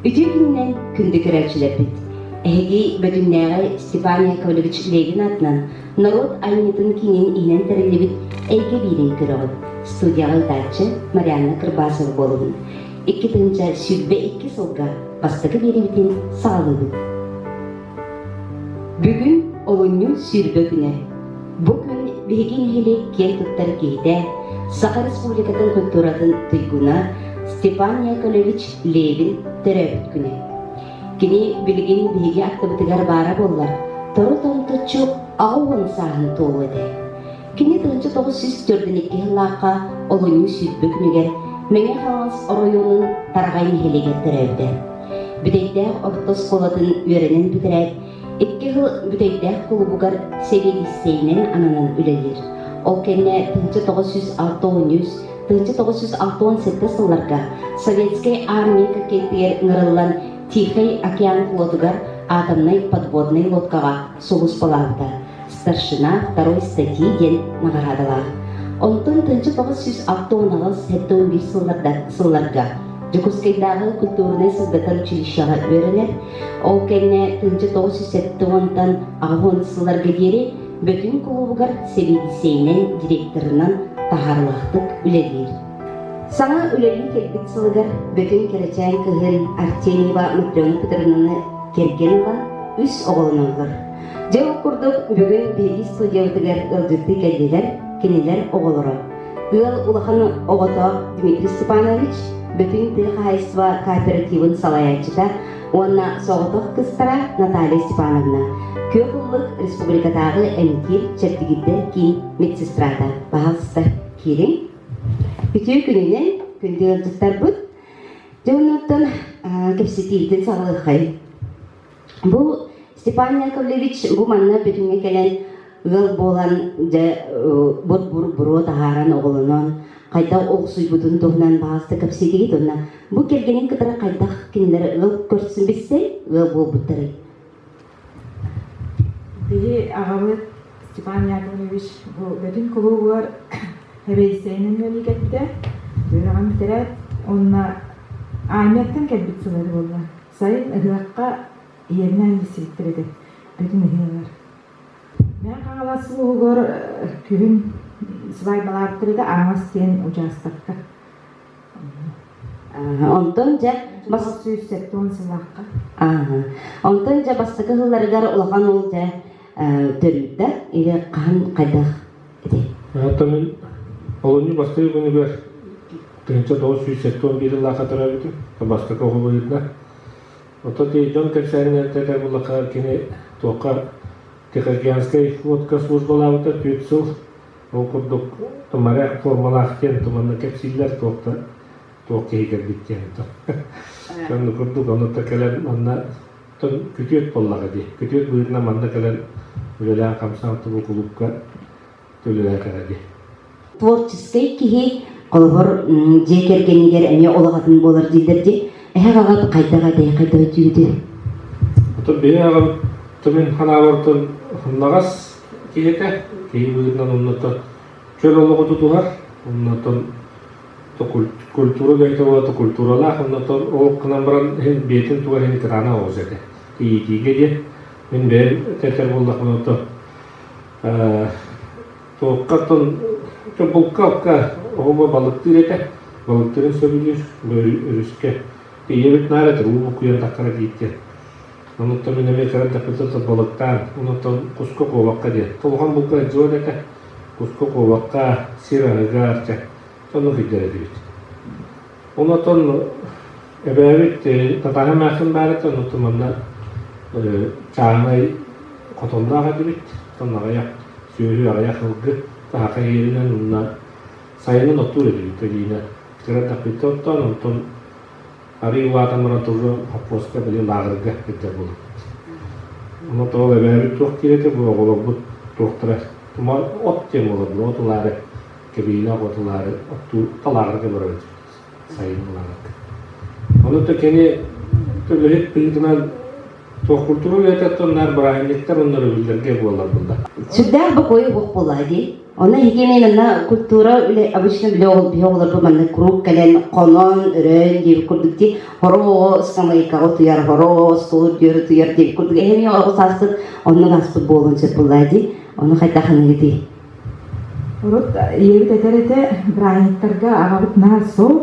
Ити күннэн күндү көрөөччүлэрбит, эһиги Бөтүннээҕэй Степан Яковлевич Легин аатынан норуот айымньытын киинин иинэн тэриллибит эйгэ биирин көрөҕүт. Студияҕа ыытааччы Марианна Кырбасова буолугун. Икки тыынча сүүрбэ икки сылга бастакы биэрэбитин саҕалыыбыт. Бүгүн олунньу сүүрбэ күнэ. Бу күн биһиги нэһилиэк киэн туттар киһитэ, Саха Республикатын культуратын туйгуна Степан Яковлевич Левин төрөөбүт күнэ. Кини билигин биһиги аттыбытыгар баара буоллар, тору томтуччу аҕа уон сааһын туолуо этэ. Кини тыһыынча тоҕус сүүс төрдүн икки сыллаахха Олойуу сүүрбэ күнүгэр Мэҥэ Хаҥалас оройуонун Тараҕай нэһилиэгэр төрөөбүтэ. Бүтэйдээх орто оскуолатын үөрэнэн бүтэрээт, икки сыл Бүтэйдээх кулубугар сэбиэдиссэйинэн ананан үлэлиир. Ол кэннэ тыһыынча тоҕус сүүс алта уоньус тыһыынча тоҕус сүүс алта уон сэттэ сылларга Советскай армия кэккэтигэр ыҥырыллан Тихэй океан флотугар атомнай подводнай лодкаҕа сулуспалаабыта. Старшина второй статьи диэн наҕараадалаах. Онтон тыынча тоҕус сүүс алта уон аҕыс сэттэ уон биир сылларга Дьокуускайдааҕы культурнай сыздатар училищеҕа үөрэнэр. Ол кэннэ тыынча тоҕус сүүс сэттэ уонтан аҕыс уон сылларга диэри Бөтүҥ кулуубугар сэбиэдиссэйинэн, директорынан таһаарылаахтык үлэлиир. Саҥа үлэлии кэлбит сылыгар Бөтүҥ кэрэчээн кыһын Артемьева Матрена Петровнаны кэргэн ыла үс оҕолоноллор. Дьэ, курдук бүгүн бириис сылдьыбытыгар ыалдьыттыы кэллилэр кинилэр оҕолоро. Ыал улахан оҕото Дмитрий Степанович, бүтүн тыл хаһайыстыба кооперативын салайааччыта уонна соҕотох кыстара Наталья Степановна, Күөх Ыллык республикатааҕы эмтиир чэбдигирдэр киин медсестрата паһалста киириҥ. Үтүө күнүнэн күндү ыалдьыттарбыт. Дьэ оннуттан кэпсэтиибитин саҕалыаххайын. Бу Степан Яковлевич бу манна бүтүҥҥэ кэлэн ыал буолан дьэ бут буруо таһааран оҕолонон хайдах охсуйбутун туһунан баҕаста кэпсиитигит уонна бу кэргэнин кытары хайдах кинилэр ыал көрсүн билсэн ыал буолбуттарый? Биһи аҕабыт Степан Яковлевич бу бөтүн кулуубугар эбэйсэйинэн үлэлии үөрэҕин бүтэрээт уонна армияттан кэлбит сыллары буолла. Сайын ыһыахха Иэнэ илсибиттэр этэ бүтүн ыһыаҕар. Мээн Хаҥалас улууһугар күһүн свадьбалаахтар этэ Аҥас диэн учаастакка. Онтон дьэ бас сүүс сэттэ уон сыллаахха. Онтон дьэ бастакы сылларыгар улахан ол дьэ төрүүрдэ или хаһан хайдах Оттон олунньу бастакы күнүгэр тыһыынча тоҕус сүүс сэттэ уон биир ыллаахха төрөөбүтүм. Бастакы оҕо былырда. Оттон ити дьон кэпсээнинэн этэр буоллахха, кини туохха тихоокеанскай лодка службалаабыта түөрт сыл. Ол курдук моряк формалаах диэн туманна кэпсииллэр туох да туох киһи кэлбит диэн оннук курдук онно кэлэн манна Оттон күтүөт буоллаҕа дии. Күтүөт быһыытынан манна кэлэн үлэлээн хамсаан тобу кулуупка төлөһө кэлэ дии. Творческай киһи олоһор дьиэ кэргэнигэр эмиэ улаҕатын буолар дииллэр дии. Эһэх аҕат хайдах этэй, хайдах өтүүтүн? Отон биһи аҕам тымын ханаабартан хуннаҕас киһитэ, киһи быһыытынан оннотон чөл олоҕу тутуһар, оннотон Культура бэйэтэ уолата культуралаах, оннуттан ол гынан баран иһин бэйэтин туга иһин ветерана оҕус этэ. Иитиигэ диэн, мин бэйэм этэр буоллахпына оттон ээ туоххаттан булка-алка оҕуба балыктыыр этэ, балыктыырын сөбүлүүр, өрүскэ тиийэбит наар этэ уу букуйан таххара дииртэн. Онуттан мин эмиэ кэлэн таппыттан балыктаан, онуттан куска куобахха диэн, улахан булка сдвоет этэ. куску куобахха, сир аһыга, чэ, сонно сылдьар этибит. Ол оттон эбээбит татаара эмээхсин баарыттан оттон манна чааһынай хотонноох этибит, сонноҕойох, сүөһү аҕыйах ылгы таһака иэринэн уонна сайынын оттуур этибит кэлиинэ. Кыраттахпыттан оттоон, онтон арыый улаатан баран тыллан хоппуоска били лааҕырга ирдэр буолбут. Ону тоол эбээбит туох киирэтэ бу оҕолорбут туохтара тумар от диэн буолар от ылаары кэбиинэх от ылаары оттуу талааҕырга барабыт сайын ылаары. Ону то кини үлэһит быһыытынан Суохкуртуга үлэтиттэн наар бырааһынньыктар оннору биллэргэ буоллар булла. Сүрдээх бокуой уох буолла дии. Онно итиэнэн манна культура үлэ обычно билэ биһи оҕолорбу манна куруук кэлэн хонон, өрөөн диэбит курдук дии. Хороҕо самайкаҕа утуйар, хороҕо стол үрдүөр утуйар диэбит курдук. Эһэми оҕо сааспыт оннун ааспыт буолуон сөп буолла дии. Ону хайдах аныгытый? Урут ийэбит этэр этэ, бырааһынньыктарга аҕабыт наар сол,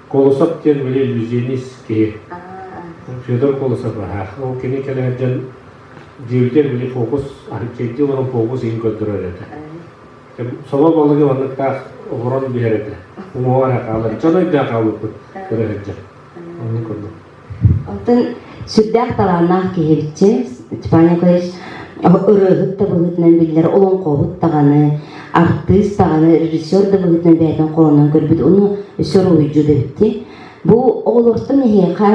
Колосов диэн били иллюзионист киһи. Федор Колосов аһа. Ол кини кэлэ сылдьан дьүүлгэ били фокус, анкетди олорон фокус иһин көрдөрөр этэ. Сома балыгы манныктаах олорон биһэр этэ. Уҥуоҕар хаалан, дьон өйдөөн хаалбыппыт көрө сылдьар. Онон көрдüm. Оттон сүрдээх талааннаах киһи эбиччэ Степан Николаевич ырыаһыт да быһыытынан биллэр олоҥхоһут даҕаны, артыыс даҕаны, режиссер да быһыытынан бэйэтин хоһоонун көрбүт уну өссө уруһуйдьут эбиттии. Бу оҕолортон эһиэхэ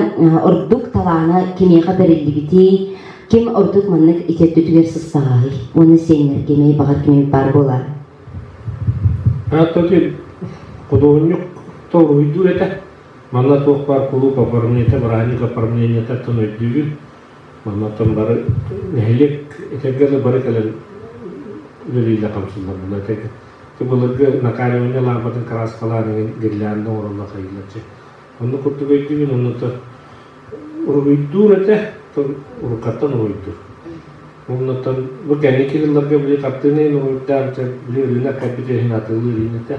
ордук талаана кимиэхэ бэриллибитий, ким ордук маннык ити өттүтүгэр сыстаҕаһый уонна сиэннэргэ эмиэ баҕар кимий баар буолаарай? Ааттатыын худуоһунньук да уруһуйдуур этэ Манна туох баар кулууп оформлениета, бырааһынньык оформлениетыттан өйдүүбүн. Маннаттан бары нэһилиэк этэргэ дылы бары кэлэн үлэлиилэр хамсыыллар буолла. Этэргэ былыргы накаливание лаампатын кырааскалаан иҥин гирлянда оҥороллор хайыылар чэ. Онну курдук өйдүүбүн, оннута уруһуйдуур этэ, уруккаттан уруһуйдуур. Оннуттан бу кэнники yıllarга били хартыына иһин уруһуйдаан, били ырыынак кэлбит иһин атыылыы ырыын этэ.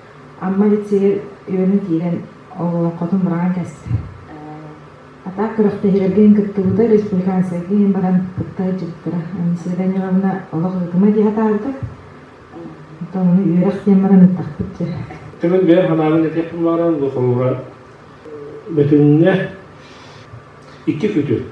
Амма лицейа үөрэн киирэн олоҥхотун мураҕан кэстэ. Атаак күрэхтэһиилэргэ кыттыбыта республиканскайга баран кытта дьиттара. Анисия Даниловна олох ыгыма дии атаарда. Оттон ону үөрэх диэн баран ыттахпыт дьэ. Төгүл бэйэ ханаалын этиэхпин бааран бу холуһа бөтүннэ икки күтүрт.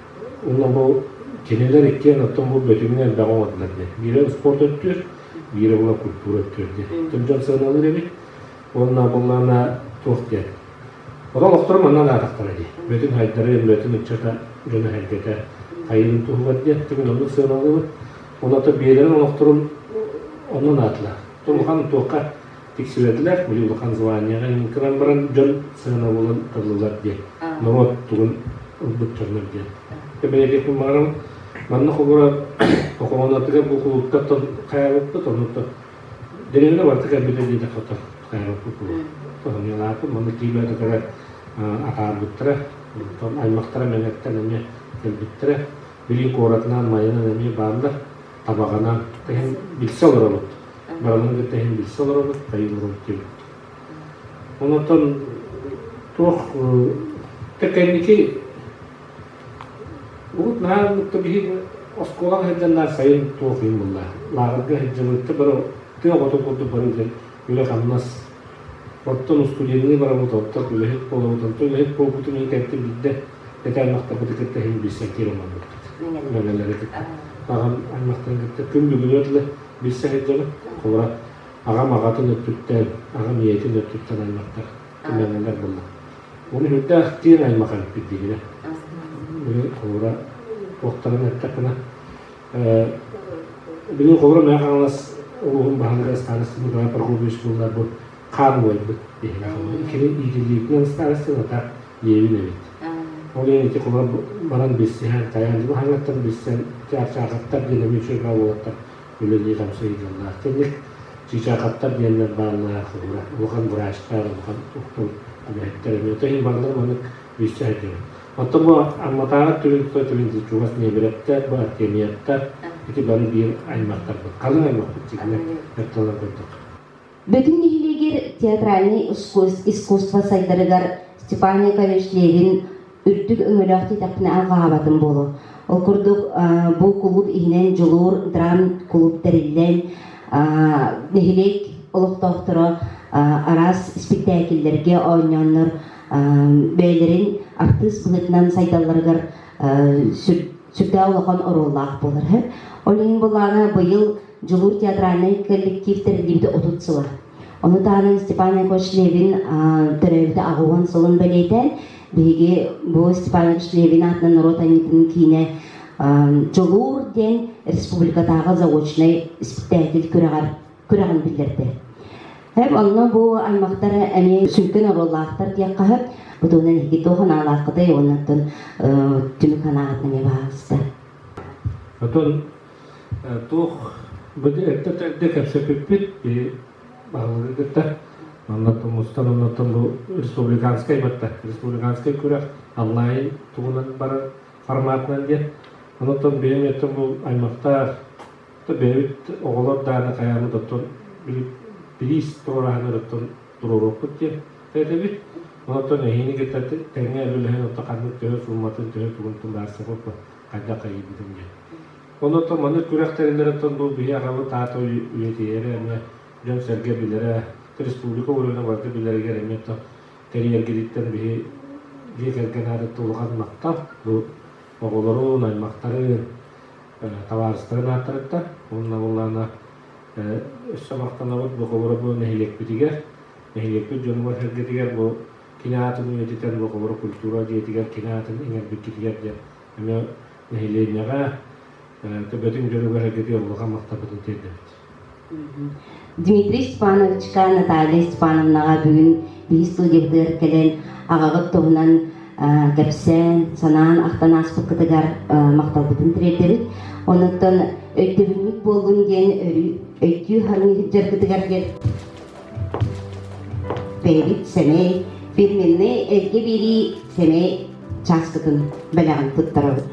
Уонна бу кинилэр иккиэн оттон бу бөтүҥүн элбэҕи оҥордулар диэн. Биирэ спорт өттүөр, биирэ була культура өттүөр диэн. Этим дьон сыаналыыр эбит. Уонна буллаана туох диэн. Ота олохторум манна даатахтара дии. Бөтүн хайдары, бөтүн ыччата, дьону сэргэтэ хайыырын туһугар диэн. Тимин оннук сыаналыыбыт. Уонна то биэрэрин олохторум оннун аатылар. Улахан туохха тиксибэтилэр, били улахан званиеҕа иҥэн туран баран дьон сыана буолан ытыллылар диэн. Норуот тугун ылбыт дьоннор диэн. Тэбэлэги хумарам манна хобура хохоонатыгар бу кулуттаттан хайабыппыт оннуттан дирелле барта кэлбитэ диэтэ хата хайабыппыт тоһонилааппыт манна киибэтэтэрэ атаарбыттара аймактара мэҥэттэн эмиэ кэлбиттэрэ били куоратынан майынан эмиэ бааллар табаҕынан иһин билсэ олоробут. Баранын кытта иһин билсэ олоробут, тайылабыт диэбит. Онотон туох тэкэнники Бүгут наар бутта биһиги оскуолаға сылдьаннар сайын туох иһин булла. Лааҕырга сылдьабытты бары тыа хотун курдук бары дьэн үлэ-хамнас. Оттон устудьенныы барабыт, оттон үлэһит болобут, оттон үлэһит буолбутун кэнти бидде Ити аймахтарбыты кытта иһин билсэн киирэн ылбыппыт. Бэбэлэритик. Аҕам аймахтарын кытта күн бүгүнү өтлө билсэһит дьону. Холура аҕам аҕатын өттүттэн, аҕам ийэтин өттүттэн аймахтар күмэҥэлэр булла. Оны үрдээх аймаха эппит дигине. Холура туохтарын эттэххинэ, билин холура мэ хаҥалас улууһун баһылыга старостыбыга торговый школларбыт хаан буойбут диһин. Кирин иитилиитинэн старостина так диэбин эбит. Ол иһин ити кулар баран билсиһэн, тайаанньыга хаҥаттан билсэн, чаачаахаттар диэн эмиэ үчүгэйэ уолаттар үлэлии-хамсыы ыйыыллаах. Кэнник чыычаахаттар диэннэр бааллара уһура. Улахан врачтар, улахан уктун үлэһиттэр эмиэ. Оттон иһин бааллар маннык билсиһэрдэрин. Оттон бу Амматааҕы түмүк Тыа түмүн чугас ниэмирэптэр, бу Артемьевтар, ити бары биир аймахтарбыт. Халыҥ аймахпыт дьиҥнэр, ерталар курдук. Бүтүн нэһилиэгэр театральнай искусство сайдарыгар Степанникович Левин үрдүк өҥөлөөх тиэтэхпинэ алҕаһаабатым буолуо. Ол курдук бу кулууп иһинэн дьулуур драм кулууп тэриллэн нэһилиэк олохтоохторо араас испиктээкиллэргэ оонньооннор бэйэлэрин артыыс быһыытынан сайдалларыгар сүрдээх улахан оруоллаах буолар. Ол иһин былаана быйыл Дьулуур театральнай коллектив тэриллибитэ отут сыла. Ону таһынан Степан Якович Левин төрөөбүтэ аҕыһын сылын бэлиэтээн, биһиги бу Степан Якович Левин аатынан норуот айымньытын киинэ Дьулуур диэн республикатааҕы заочнай испэктээкил күрэҕэр күрэҕин биллэрдэ. Эб онно бу аймактар эмиэ сүҥкэн оруоллаахтар диэххэ сөп. Бу туһунан эһиги туох санаалааххытай уонна оттон түмүк санааҕытын эмиэ баҕаҕыста. Отон Туох бу эрдэ эрдэ кэпсэпиппит баһылыгы кытта манна мустан оннуттан бу республиканскай батта республиканскай күрэх Аллай тугунан барар форматынан диэн оннуттан бэйэм еттем бу аймахтаах бэйэбит оҕолор дааны хайааны доттон билиис туораһаны доттон туруоруохпут диэн этэбит оннуттан эһиини кытта тэҥҥэ үлэлэһэн отто ханнык төһө суумматын төһө тугунтун баарсабыппын хайдах эйийбитим диэн. Онон маннык күрэхтэриннэриттэн бу биһи аҕабыт аата үйэтийэрэ эмиэ дьон-сэргэ билэрэ, республика уровена барыта билэригэр эмиэ кэриэргититтэн биһи дьиэ кэргэн аатыттан улахан махтал бу оҕолорун, аймахтарын, табаарыстарын ааттарыттан уонна боллаана өссө махтанабыт бу Хоборобу нэһилиэкпитигэр, нэһилиэкпит дьонугар-сэргэтигэр бу кини аатын үйэтитэр Лохолоро культура дьиэтигэр кини аатын иҥэрбиккитигэр диэн эмиэ нэһилиэнньэҕэ төбөтүн дьонугар улахан махталбытын тиэрдэбит. Дмитрий Степановичка Наталья Степановнаҕа бүгүн биһис сыл дьиэтигэр кэлэн аҕаҕыт туһунан кэпсээн, санаан ахтан ааспыккытыгар махталбытын тириэрдэбит. Онуттан өйдөбүнньүк буоллун диэн өйдүү хаалыҥ дьаргытыгар диэн бэйэбит сэмэй, фирменнэй эргэ биэрии сэмэй чааскытын бэлэҕин туттарабыт.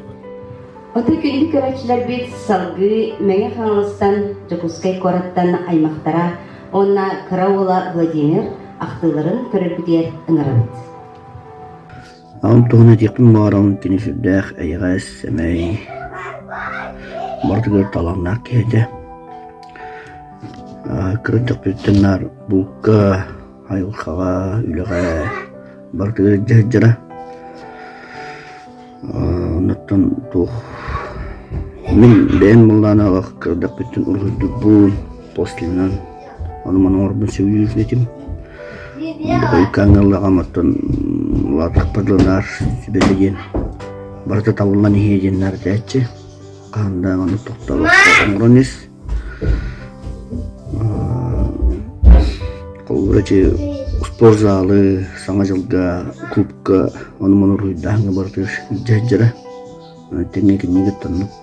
Ото күндү көрөөччүлэрбит салгыы Мэҥэ Хаҥаластан, Дьокуускай куораттан аймахтара уонна кыра уола Владимир ахтыыларын көрөрбүтүгэр ыҥырабыт. Ол туһун этиэхпин баҕарабын кини сүрдээх эйэҕэс, сэмэй, барытыгар талааннаах киһи этэ. Кыраччахпытыттан наар булка, айылҕаҕа, үлэҕэ барытыгар илдьэ сылдьара. Оннуттан туох мин бэйэм мыллаан аҕах кырадахпыттан уруһуйдуурбун, послинынан Ону маны оҥорбун сөбүлүүр этим. Ойуккааҥҥа ыллаҕам, оттон улаатахпар дылы наар сүбэтэ диэн барыта табыллан иһиэ диэн наартааччы. Хаһан да аны тохтолохто оҥорон ис. Холбура чи спорт залы, Саҥа дьылга, клубка, ону-маны уруйдааҥҥа барытыгар дьэдьэрэ. Тэҥҥэ кинигэ тоннук.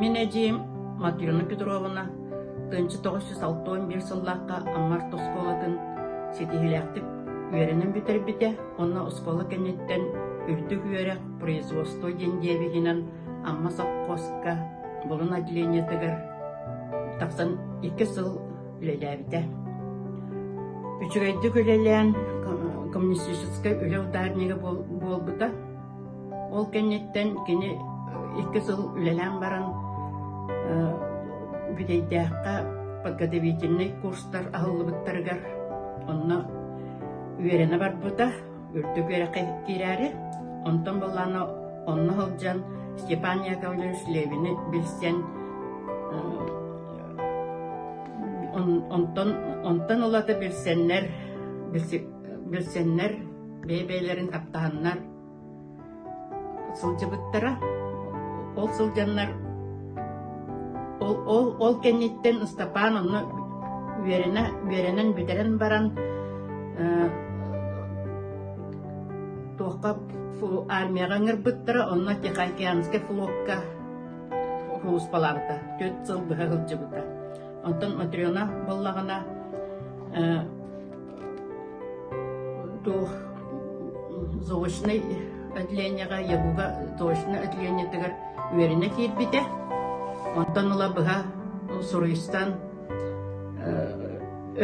Мин эдьиийим Матрена Петровна, тыынча тоҕус сүүс алта уон биир сыллаахха Аммар оскуолатын ситиһиилээхтик үөрэнэн бүтэрбитэ уонна оскуола кэнниттэн үрдүк үөрэх производство диэн диэбиһинэн Амма совхозка булун отделениетыгар тахсан икки сыл үлэлээбитэ. Үчүгэйдик үлэлээн коммунистическай үлэ ударнига буолбута Ол кэнниттэн кини икки сыл үлэлээн баран Бүтэйдээххэ подготовительнай курстар аһыллыбыттарыгар онно үөрэнэ барбыта, үрдүк үөрэххэ киирээри. Онтон былаана онно сылдьан Степан Яковлевич Левини билсэн онтон онтон ылата билсэннэр билсэннэр бэйэ-бэйэлэрин таптаһаннар сылдьыбыттара. Ол сылдьаннар ол, ол, ол кэнниттэн Ыстапаан онно үөрэнэ, үөрэнэн бүтэрэн баран э, туохха армияҕа ыҥырбыттара, онно Тихоокеанскай флокка кууспалаабыта. Түөрт сыл быһа сылдьыбыта. Онтон Матрена буоллаҕына э, то заочнай отделенияҕа ЯГУ-га заочнай отделениетыгар үөрэнэ киирбитэ. Онтон ыла быһа суруйстан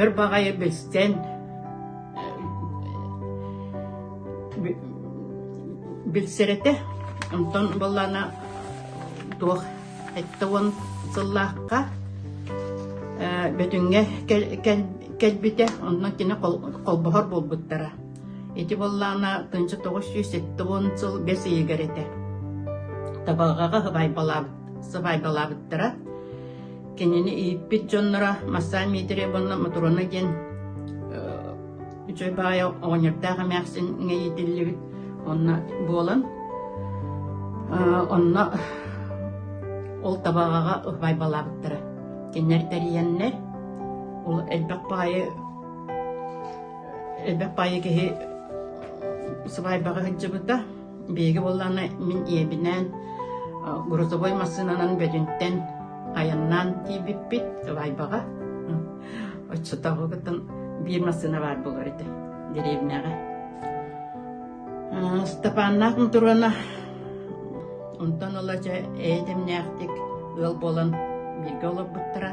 өр баҕайы билсэн билсэрэтэ. Онтон баллана туох Сэттэ уон сыллаахха Бөтүҥҥэ кэлбитэ, онно кини холбоһор буолбуттара. Ити буоллаҕына тыынча тоҕус сүүс сэттэ уон сыл бэс ыйыгар этэ. Табалҕаҕа сыбаайбалаабыттара. Кинини ииппит дьонноро Масса Дмитриевна Мутурона диэн үчүгэй баҕайы оҕонньордоох эмээхсин иҥэйитиллибит онно буолан онно ол табаҕаҕа убайбалаабыттара кинилэр тэрийэннэр ол элбэх баайы элбэх баайы киһи сыбаайбаҕа сылдьыбыта биһиги буоллаҕына мин ийэбинээн грузовой массыынанан бөтүнтэн айаннаан тиийбиппит убайбаҕа Оччотооҕу кытын биир массыына баар буолар этэ деревняҕа. Степаннаах Мутуруона онтон ыла дьэ эйэтэмнээхтик ыал буолан бииргэ олорбуттара.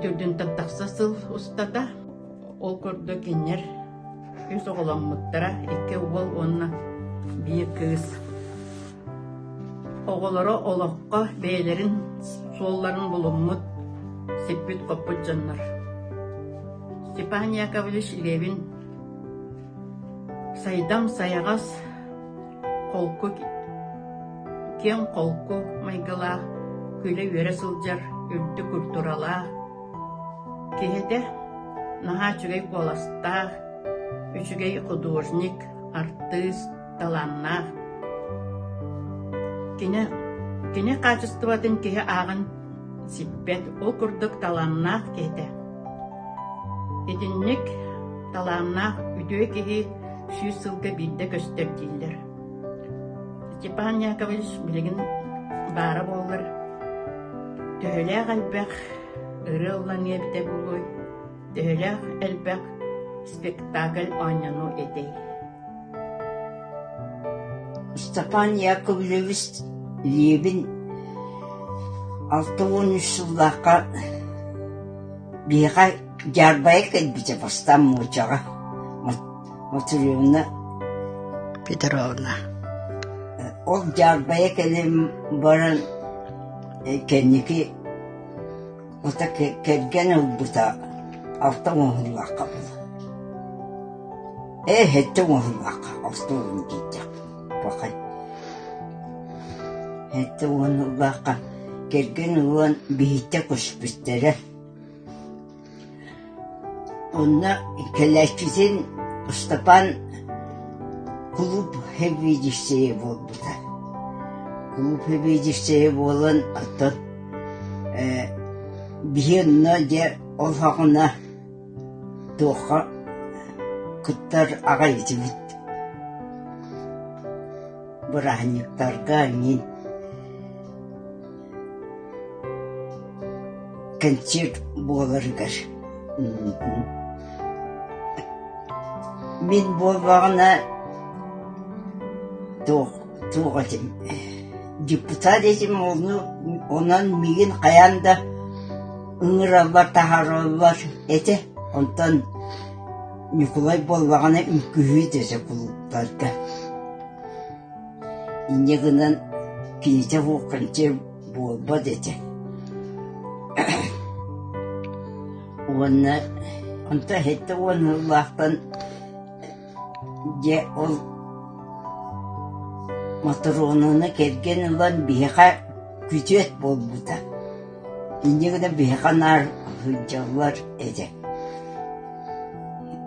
Түрдүнтэн тахса сыл устата ол курдук киннэр үс оҕоломмуттара, икки уол уонна биир кыыс. Оҕолоро олоххо бэйэлэрин суолларын булуммут, сиппит-хоппут дьоннор. Степан Яковлевич илиэбин сайдам сайаҕас, холку, киэҥ холку майгылаах, күлэ-үөрэ сылдьар үрдүк культуралаах, киһитэ наһаа үчүгэй куоластаах, үчүгэй художник, артыыс, талааннаах. Кини кини хаачыстыбатын киһи ааҕан сиппэт, ол курдук талааннаах киһи этэ. Итинник талааннаах үтүө киһи сүүс сылга биирдэ көстөр дииллэр. Степан Яковлевич билигин баара буоллар төһөлөөх элбэх ырыа ылланыа эбитэ буолуой Төһөлөөх элбэх спектакль оонньонуу этэй Степан Яковлевич Лебин алта уон үс сыллаахха биһиэхэ дьаарбайа кэлбитэ бастаан муочаҕа Матеревна Петровна ол дьаарбайа кэлэн баран кэнники Хата кэргэн ылбыта алта оҥоһуллубакка буолла. Ээ сэттэ оҥоһуллубакка алта оҥоһун диэтэхпин. Бакай. Сэттэ оҥоһуллубакка кэргэн ылан биһиттэ көспүттэрэ. Онно кэлээччитин Ыстапаан кулууп сэбиэдиссэйэ буолбута. Кулууп сэбиэдиссэйэ буолан оттон э биһи онно дьэ ол хагына туохха кыттар аҕай этибит. Бырааһынньыктарга мин Кэнсиэрт буоларыгар мин буоллаҕына туох туох этим депутат этим ону онон миигин хайаан да ыҥыраллар таһаараллар этэ онтон Ньукулай буоллаҕына үҥкүһүү дэсэ кулууптарга Инньэ гынан кинитэ буолканчы буолбат этэ уонна онто хэттэ уон сыллаахтан дьэ ол мотороонуну кэргэн ылан биһиэхэ күтүөт буолбута инньэ гынан биһиэхэ наар сылдьаллар этэ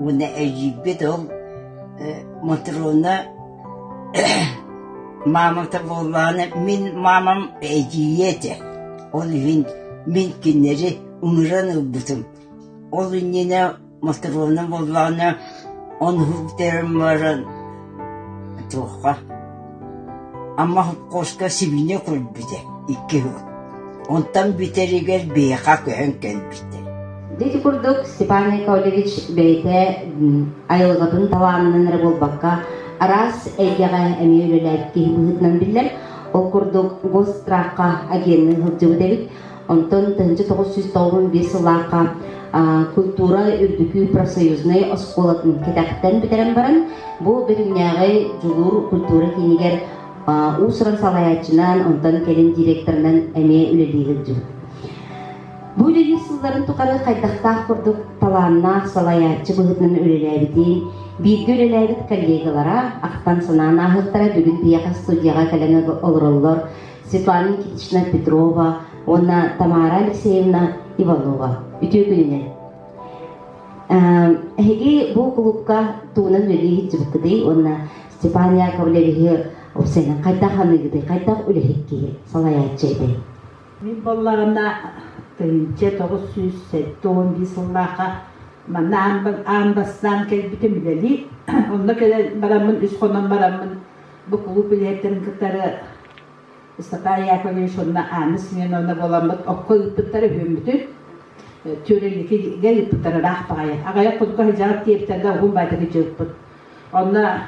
уонна эдьиийбит ол мотороона Маамата буоллаҕына мин маамам эдьиийэ этэ, ол иһин мин кинилэри ыҥыран ылбытым. Ол иннинэ Мотуровна буоллаҕына ону бүтэрэн баран туохха, Амма хопкуоска сибиинньэ көрбүтэ икки уол Онтон бүтэригэр биһиэхэ көһөн кэлбитэ Дьэ ити курдук Степан Яковлевич бэйэтэ айылҕатын талаанынан эрэ буолбакка араас эйгэҕэ эмиэ үлэлээн киһи быһыытынан биллэр. Ол курдук госстраахха агенны сылдьыбыт эбит. Онтон тыһыынча тоҕус сүүс тоҕус биэс сыллаахха культура үрдүкү профсоюзнай оскуолатын кэтэхтэн бүтэрэн баран бу бүтүннээҕи дьулуур культура киинигэр уус-уран салайааччынан, онтон кэлин директорынан эмиэ үлэлии сылдьыбыт. Бу үлэлии сылларын тухары хайдахтаах курдук талааннаах салайааччы быһыытынан үлэлээбитин, бииргэ үлэлээбит коллегалара, ахтан-санаан ааһыттара бүгүн тыйаха студияҕа кэлэн олороллор Светлана Никитична Петрова уонна Тамара Алексеевна Иванова. Үтүө күнүнэн! Эһиги бу кулуупка тугунан үлэлии сылдьыбыккытый уонна Степан Яковлевиһы уопсайынан хайдах аныгытый, хайдах үлэһит киһи, салайааччы этэй? Мин буоллаҕына, тыһыынча тоҕус сүүс сэттэ уон биир сыллаахха манна аан бастаан кэлбитим үлэлии. Онно кэлэн бараммын, үс хонон бараммын, бу кулууп үлэһиттэрин кытары Степан Яковлевич уонна Анна Семеновна буоламмыт окко ыыппыттара үһүммүтүн, Түөрэликигэ ыыппыттара ыраах баҕайы. Аҕыйах курдук сыдьаҕар тиэбиттэргэ уһун байтаки дьыыппыт. Онно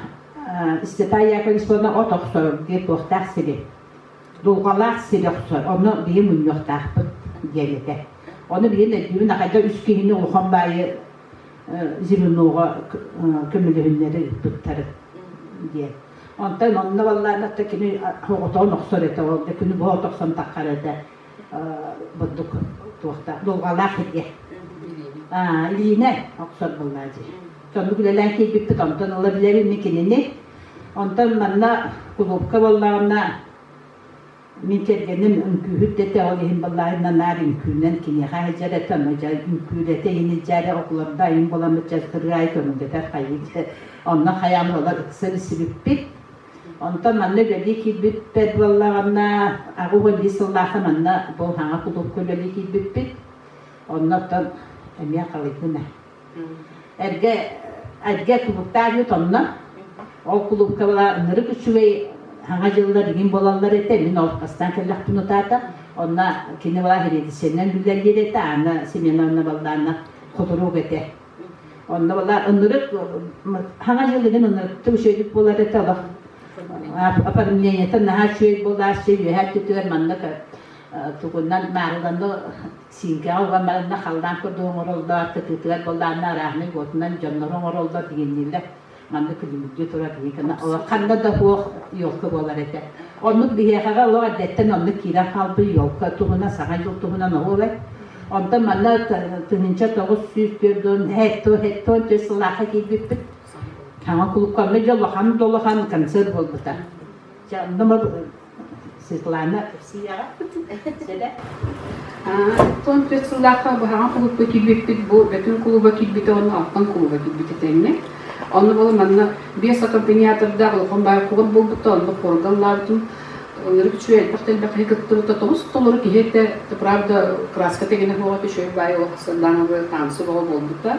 Святая Яковлевна от охсорор диэн туохтаах сири, дулҕалаах сири охсор. Онно биһи мунньуохтаахпыт диэн этэ. Ону билин өйдүүбүн, ахайда үс киһини улахан баайы Зеленоҕа көмөлөһүннэри ыыппыттарын диэн. Онтон манна баллаан атта кини отоон охсор этэ, ол да күнү бу от охсон таххар этэ. бурдук туохтаах дулҕалаах сиргэ илиинэ охсор буллаа дии соннук үлэлээн киирбиппит онтон ыла билэбин мин кинини онтон манна кулуупка буоллаҕына мин кэргэним үҥкүүһүрдэтэ ол иһин буоллаҕына наар үҥкүүнэн киниэхэ сылдьар этэ онно дьэ үҥкүүлэтэ иһин дьээри окуларда айым буоламмыт дьэ сырыай көҥүлэтэр хайыы онно хайаан буолар ыкса билсибиппит Онтон манна үлэлии киирбиппэр буоллаҕына, аҕыс уон биир сыллаахха манна Болҕаҥа кулуупка үлэлии киирбиппит. Онно оттон эмиэ халыйбына. Эргэ, эргэ кулууптаах үүт онно. Ол кулуупка была ынырык үчүгэй Саҥа дьыллар игин буолаллар этэ. Мин ол бастаан кэллэхпин утаата. Онно кини была һириэдисэнэн үлэлиир этэ. Аны Семена Баллаана хотурук этэ. Онно бала оннугар хаҥа дьылыгын оннугар тусөйдүк буолар этэ олох опорожнениетын наһаа үчүгэй буолаас үөһээ түтүгэр манна тугунан маарыланна сииҥкэҕэ уган баранна халлаан курдук оҥороллор кытыытыгар буоллаанна арааһынай уотунан дьоннору оҥороллор дигиннииллэр Манна күлүмүрдүү турар Никаны ханна да суох елка буолар этэ. Оннук биһиэхэҕэ олох эрдэттэн оннук киирэн хаалбыт елка туһунан саҥа дьыл туһунан оһуобай. Онтон манна тыһыынча тоҕус сүүс түөрт уон hetто hetто сылаахха киирбиппит. Саҥа кулуккаҥҥа дьэ улахан да улахан концерт буолбута. Дьэ онно Светлана сыыйаҕа сэлэ тоон түөрт сыллаахха быһаҕан кулуупка киирбиппит бу Бөтүн кулуба киирбитэ уонна Алтан кулуба киирбитэ тэҥҥэ онно бала манна биэс аккомпаниатордаах улахан баай кулуп буолбута онно порга ыллаабытым ынырык үчүгэй элбэх да элбэх киһи кыттыбыта тоҕус толору киһи этэ правда краска тэгэнэ суох үчүгэй баай олох сырдаана бу танцы бөҕө буолбута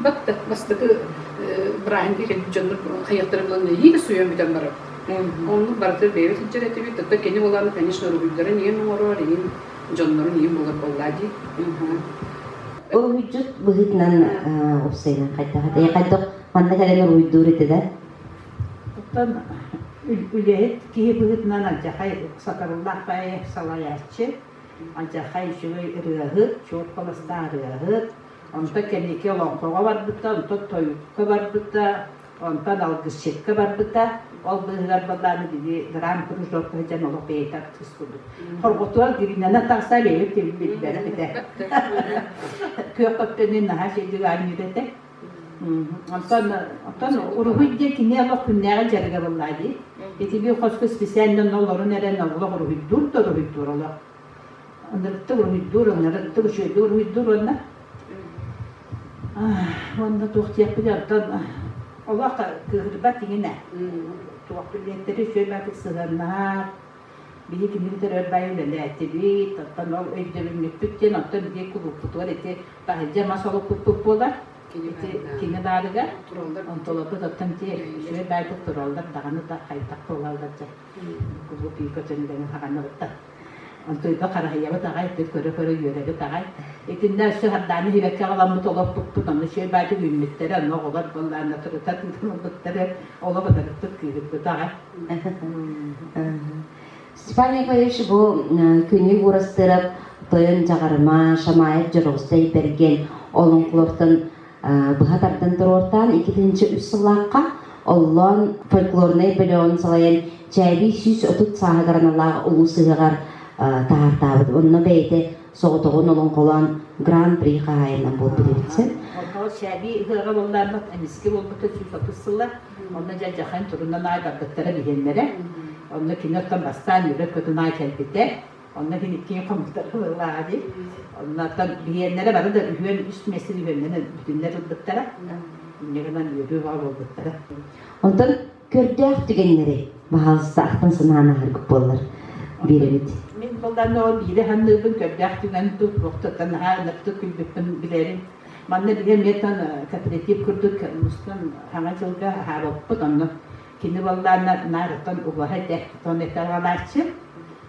Бат бастакы бырааһынтыы дьоннор хайыахтара булан илии да суйан бүтэн барар. Оннук барыта бэйэбит сылдьар этибит. Тото кини болааны, конечно, уруһуйдарын ийэм оҥорор, ийэм дьоннорун ийэм булар боллаа дии. Уруһуйдьут быһыытынан уопсайынан хайдах этэй? Хайдах манна кэлэн уруһуйдуур этилэр? Оттон үлэһит киһи быһыытынан алдьахай сатарыллаах бэйэ салайааччы, алдьахай үчүгэй ырыаһыт, чуор холостаах ырыаһыт, Онтон кэнники олоҥхоҕо барбыта, онтон тойукка барбыта, онтон алгысчыкка барбыта. Ол быыһыгар былааны били гран-кружокка сылдьан олох бэйэтэ артыыс курдук. Хорҕотугар Гринанан тахса бэйэм тилин билбэрэ этэ. Күөх көттөнүн наһаа чэйдик аанньыыр этэ. Онтон онтон уруһуй диэн кини олох күннээҕи дьарыга буллаа дии. Итилии хоско специально нолорун эрэн олох уруһуйдуур да уруһуйдуур олох. Ынырыктык уруһуйдуур, ынырыктык үчүгэйдик уруһуйдуур уонна уонна туох диэппитий оттон олох кыыһырбат иҥинэ туох билиэттэри үчүгэй баай сыһыаннаһар били кини бүтэр өр баай үлэлээтибит оттон ол өйдөбүнньүкпүт диэн оттон биир кулууппутугар ити таһырдьа мас олоппуппут буолар ити кини баарыгар онтуларбыт оттон ити үчүгэй баайбыт тураллар даҕаны да хайдах буолаллар дьэ кубулутуйга дьөллөҥү хаҕынабыт да онтуйга хараһыйабыт аҕай ити көрө-көрө үөрэбит аҕай итиннэ өссө хардааны иһибэккэ аҕаламмыт олоппуппут аны чүөл баайдык үүммүттэрэ ону оҕолор буоллаанна турута тыынан ылбыттары оло батарыппыт кыыһырбыт аҕай Степан Николаевич бу күнү Уурастырап тойон Дьаҕарыма Шамаев Дьоругсай Бэргэн олоҥхолортон быһа тардан туруортаан икитинчи үс сыллаахха Оллоон фольклорнай бөлөҕүн салайан чээбий сүүс отут сааһыгараналаах улуус сыһыгар таһаартаабыт. Онно бэйэтэ соҕотоҕун олоҥхолоон гран-при хаһаайынынан буолбут син. Оллоон чээбий ыһыаҕа буоллааммыт эмискэ буолбута сүүс отут сылла. Онно дьадьахайын турунан аай барбыттара биһиэннэрэ. Онно киниттэн бастаан Ньүбэк көтүн аай кэлбитэ. Онно кини киэҥ хомуттар ылыллааҕа дии. Оннуттан биһиэннэрэ бары да үһүөн үс миэстэ үһүөннэнэн бүтүннэр ылбыттара. Инньэ гынан үөрүү-хоһо буолбуттара. Онтон көрдөөх түгэннэри баһаалыстаахтан санаан аһаргыт буоллар биэрэбит. Мин былаан ол биирэ санныырбын көрдөөх түгэн туохтуттан наһаа ыныртык күлбүппүн билэрим. Манна биһи эмиэтэн кооператив курдук мустан хаҥа дьылга аһаабыппыт онно. Кини баллаана наарыттан убаһа этэ, тону этэҕалааччы.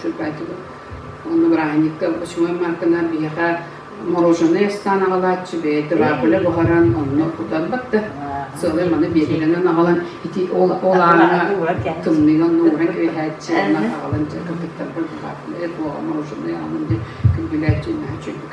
черпайтыбыт. Онно бырааһынньыкка почему марканар биһиэхэ мороженое астаан аҕалааччы бэйэтэ баапылы буһаран онно кутан бакта сылы маны биэрилэнэн аҕалан ити ол ол аана тымныыга онно ууран кэбиһээччи онно аҕалан кыртыктарбыт баапылы буола мороженое аанын дьэ күндүлээччи наһа чөйбүк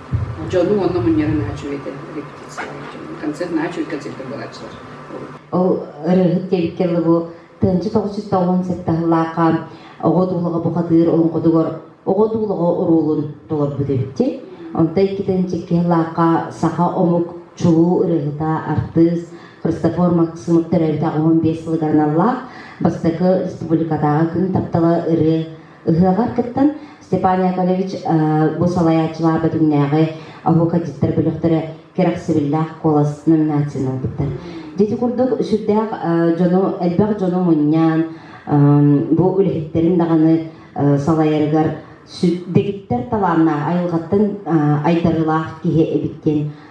Дьону уонна мунньары наһаа үчүгэй этэ репетиция концерт наһаа үчүгэй концертэ буолааччылар ол ырыаһыт диэбиккэ дылы бу тыһынча тоҕус жүз тоҕуон сыттаһылаахха оҕо туулаҕа бухатыыр олоҥхотугар оҕо туулаҕа уруулун толорбут эбитти онто иккитинчи киһилаахха саха омук чулуу ырыаһыта артыыс Христофор Максимов төрөөбүт аҕыс уон биэс сылыгар аналлаах бастакы республикатааҕы күн таптала ырыа Ыһыаҕар кыттан Степан Яковлевич бу салайааччылаах Бэтүҥнээҕи оһуокадьыттар бөлөхтөрө кэрэхсэбиллээх куолас номинацияны ылбыттар. Дьити курдук сүрдээх дьону, элбэх дьону мунньаан, бу үлэһиттэрин даҕаны салайарыгар дэгиттэр талааннаах, айылҕаттан айдарыылаах киһи эбит диэн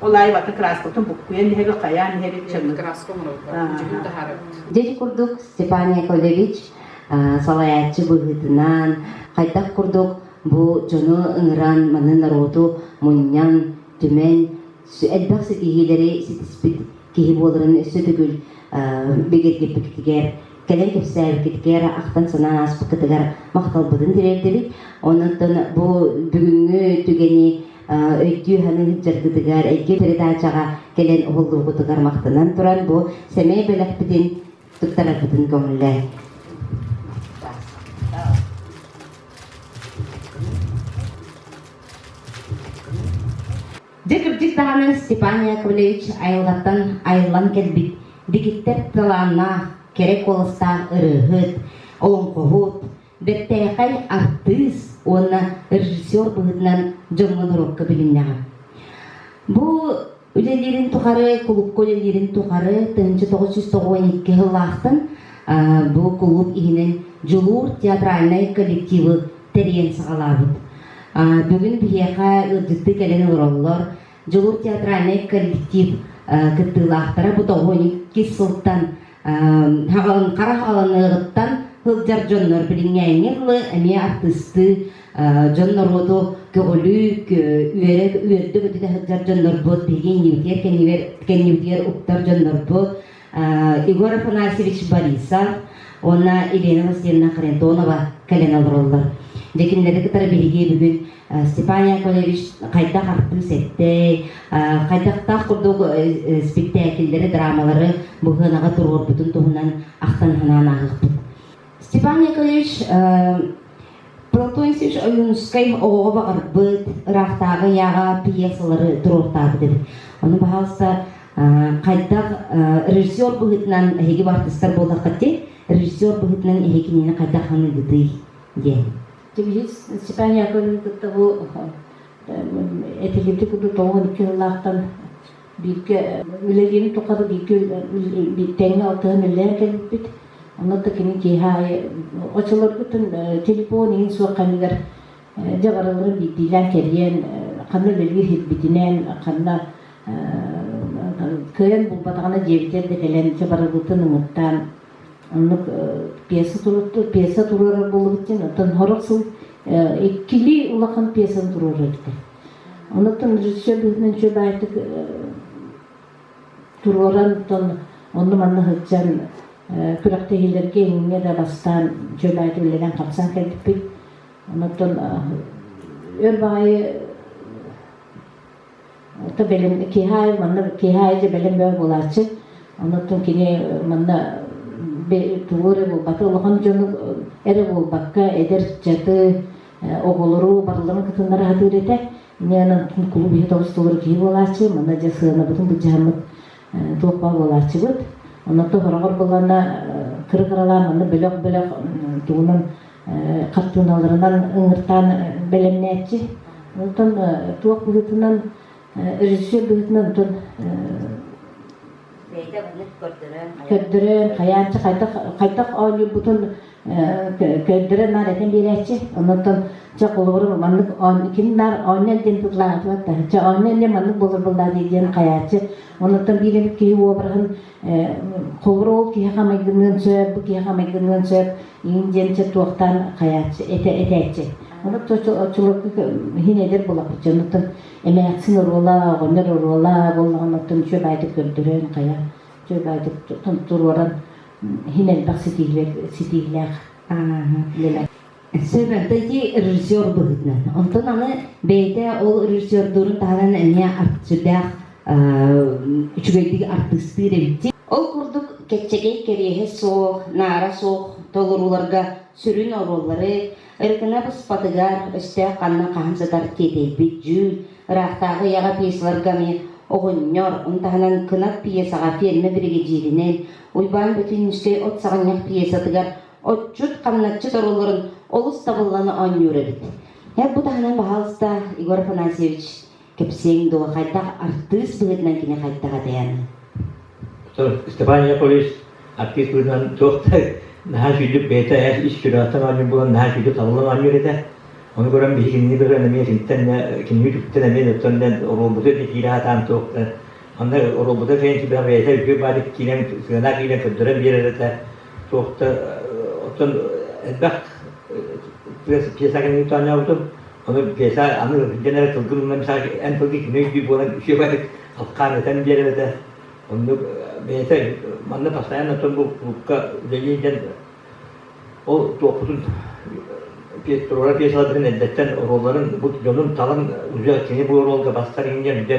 Ол аайы вата краскабытын буккуйан иһэбит, хайаан иһэбит. Чаҥҥа краска оҥорорго дьүһүн таһаарабыт. Дьэдьи курдук Степан Яковлевич салайааччы быһыытынан хайдах курдук бу дьону ыҥыран маны норуоту мунньан түмэн элбэх ситиһиилэри ситиспит киһи буоларын өссө төгүл бигэргиппикитигэр кэлэн кэпсээбиккитигэр ахтан санаан ааспыккытыгар махталбытын тириэрдэбит онон бу бүгүҥҥү түгэни өйдүү ыһан ыһыддьаргытыгар, эйгэ передачаҕа кэлэн уһуллуубутугар махтанан туран бу сэмэй бэлэхпитин туттараргытын көҥүллээн. Дьэ кырдьык даҕаны Степан Яковлевич айылҕаттан айыллан кэлбит дэгиттэр талааннаах, кэрэ куоластаах ырыаһыт, олоҥхоһут, бэртээхэй артыыс уонна режиссер быһыытынан дьоҥҥо норуокка билиннэҕэ. Бу үлэлиирин тухары, кулукка үлэлиирин тухары 1992 сыллаахтан бу кулууп иһинэн Дьулуур театральнай коллективы тэрийэн саҕалаабыт. Бүгүн биһиэхэ ыалдьыттыы кэлэн олороллор. Дьулуур театральнай коллектив кыттыылаахтара бу тоҕуонньу иккис сылтан хара халаныгыттан сылдьар дьоннор билиҥҥээҥҥи тылы эмиэ артыыстыы дьон норуоту көҕүлүү үөрэ үөрдүк өтүтэ сылдьар дьоннорбут биһиги иннибитигэр кэннибэр кэннибитигэр уктар дьоннорбут Егор Афанасьевич Борисов уонна Елена Васильевна Харитонова кэлэн олороллор. Дьэ кинилэри кытары биһиги бүгүн Степан Яковлевич хайдах артыыс эттэй, хайдахтаах курдук спектакльлэри, драмалары быһыанаҕа туруорбутун туһунан ахтан-санаан ааһыахпыт. Степан Яковлевич Платонсевич Ойуунускай оҕоҕо баҕарбыт ыраахтааҕы ыйааҕа пьесалары туруортаабыт Ону баҕалса хайдах режиссер быһыытынан эһиги бартыстар буоллаххыт режиссер быһыытынан эһи кинини хайдах саныыгытый диэн. Киһи испания кыһын кытта бу этилибити курдук тоҕуон икки сыллаахтан бииргэ үлэлиирин тухары бииргэ тэҥҥэ алтыһан үлэлээн кэлбиппит. Онно да кини киэһэ аайы оччолоргутун телефон иһин суох ханыгар дьабараларын биирдиилээн кэрийэн ханна үлэлиир сирбитинэн ханна кыайан булбатаҕына дьиэбитигэр да кэлэн дьабарабытын умуттаан Оннук пьеса пьеса туруорар буоллубутин оттон сорох сыл иккилии улахан пьесаны туруорар этэ. Онуттан режиссер быһынан үчүгэй баайтык туруоран оттон онну-манна сылдьан күрэхтэһиилэргэ иҥҥэ да бастаан үчүгэй баайты үлэлээн хамсаан кэлбиппит. Онуттан өр баайы Оттон бэлэм киэһэ аайы манна киэһэ аайы дьэ бэлэм бөҕө буолааччы. Онуттан кини манна тугу эрэ буолбата улахан дьону эрэ буолбакка эдэр ыччаты оҕолору барыларын кытыннара сатыыр этэ. Ини онон кулууп иһит олус толору киһи буолааччы. Манна дьэ сыанабытын былдьаһаммыт туох баар буолааччыбыт. Онон сороҕор былаана кыра кыралаан манна бөлөх-бөлөх тугунан хартыыналарынан ыҥыртаан бэлэмнээччи. Онтон туох быһыытынан режиссер быһыытынан онтон бэйэтэ муннук көрдөрөн көрдөрөн хайааччы хайдах хайдах оонньуурбутун көрдөрөн наар этэн биэрээччи оннуттан чэ холобуру маннык ким наар оонньол диэн быклаатыбат да чэ оонньол диэн маннык болор быллаа дии диэн хайааччы оннуттан биир эмит киһи уобраһын Холоруол киһиэхэ майгыныан сөп, бу киһиэхэ майгыныан сөп, иин диэмчэ туохтаан хайааччы, этэ этээччи. Ону оччолорго иһин эдэр булаппычча, оннуттан эмээхсин оруола, оҕонньор оруола буоллаҕына оттон үчүгэй баайдык көрдөрөн хайа, үчүгэй баайдык туруоран иһин элбэх ситиһилэр ситиһилээх үлэлэр. Сөбүөппэти режиссер быһыытынан. Онтон аны бэйэтэ ол режиссердуурун таһынан эмиэ сүрдээх үчүгэйдик артыыстыыр эбит. Ол курдук кэччэгэй кэриэһэ суох, наара суох толорууларга сүрүн оруоллары ырыкына быспатыгар өстөөх ханна хаһан сытар тиэтэйбит дьүүн, ыраахтааҕы ийэҕэ пьесаларга эмиэ оҕонньор, он таһынан кынат пьесаҕа ферма биригэдьииринэн Уйбаан Бөтүннүскэй от саҕынньах пьесатыгар отчут хамначчыт оролорун олус сабылланы оонньуур эбит. Эр бу таһынан баһалыста Егор Афанасьевич кэпсиэҥ дуо хайдах артыыс быһыытынан кини хайдах этэйэни? Степан Яковлевич артыыс быһыытынан туох да наһаа сүдүк бэйэтэ эр ис сүрэҕиттэн оонньуур булан наһаа сүдүк табыллан оонньуур этэ. Ону көрөн биһиги кинини быһыан эмиэ киниттэн кинини үтүктэн эмиэ оттон оруолбута киирэ сатаан туох да онно оруолбута фэнсибэҕ бэйэтэ үтүө баадык киирэн сыана киирэн көрдөрөн биэрэр этэ туох да оттон элбэх пьесаҕын оонньообутум ону пьеса аны илдьэн эрэ тылгын умна мисаҕа эн тылгы кимий дии буолан үчүгэйдик алхаан этэн биэрэбитэ оннук бэйэтэ манна постоянно отон булка үлэлии илдьэн ол туохпутун туруора пьесаларбытын эрдэттэн оруолларын бу дьонун талан уже кини бу оруолга бастар иҥнэр дьэ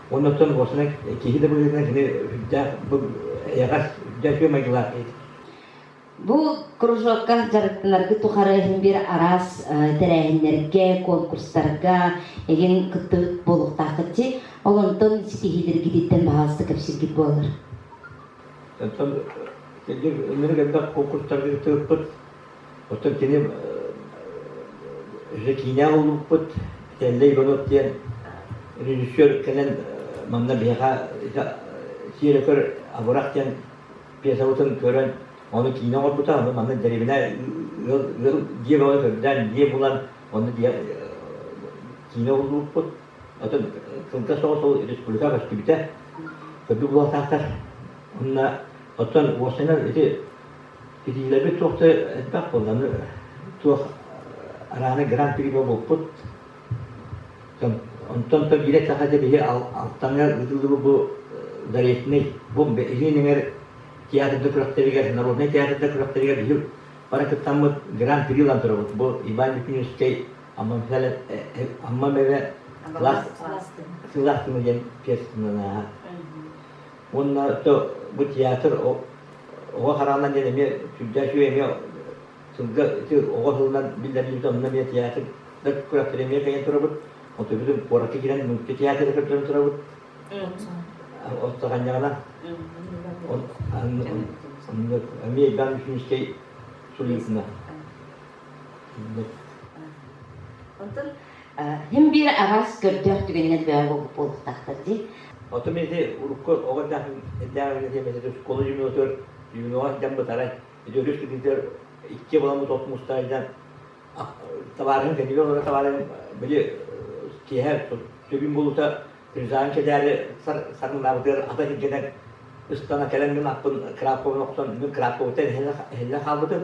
Оннуттан уосана киһи да быһыытынан кини үрдээх эйэҕэс үрдээх үтүө майгылаах этик. Бу кружокка дьарыктанаргы тухары иһин бир арас тэрээһиннерге, конкурстарга эгин кыттыбыт болуктаахытчы, олонтон ситиһилергититтен баһаасты кепсиргит буолар. Онтон өнүрүк элбэх конкурстарга кыттыбыппыт, Оттон кини өссө киинэҕэ ылбыппыт Телле Иванов диэн режиссер кэлэн манна биһиэхэ сиэрэкөр абырах диэн пьесабытын көрөн ону киинэ оҥорбута ону манна дэриэбинэ ыал ыал дьиэ бөҕөнү көрдөөн дьиэ булан онно дьиэ киинэ ылбыппыт оттон кылгас соҕус ол республика көстүбүтэ көрдүк улаатаахтар онно оттон уосанан ити Биллэрбит туох да элбэх буолланы туох арааны гран-при буолбуппут. Онтон то биирэ саха дьэ били Алтаҥа ыытыллыбыт бу заречнай бомба илиин эҥэр театрда күрэхтэригэр, народнай театрда күрэхтэригэр биһи бары кыттаммыт гран-при ылан турабыт. Бу Иван Лепиневскэй Амма Мэвэ сылаас тымыр диэн пьесатын ааһа. Уонна бу театр оҕо хараҕынан диэн эмиэ сүрдээх үчүгэй эмиэ сылга ити оҕо сылынан биллэрбит онно эмиэ театр күрэхтэри эмиэ кэйэн турабыт. Отурбутун куоракка киирэн мультитеатры көрдөрөн турабыт. Остаханьаҕына эмиэ Иван Вишневский сулиитына. Оттон Һин биир араас көрдөөх түгэнинэн бөҕө буолуохтаахтар дии. Отум ити урукку оҕо этээҕинэтиэмэтин оскуола дьүмүөтүгэр дьүмүөҕэр дэн бытарай. Ити өрүс түгүтэр икки боламмыт от мустайдан табаарыһын кэнигэр олорор табаарыһын били киэһэ түбүн булута күнсаан кэтээри сармынаабытыгар ата килгэнэн ыстана кэлэн гын аппын крапкабын охсон мин крапкабыттан иһиллэ хаалбытым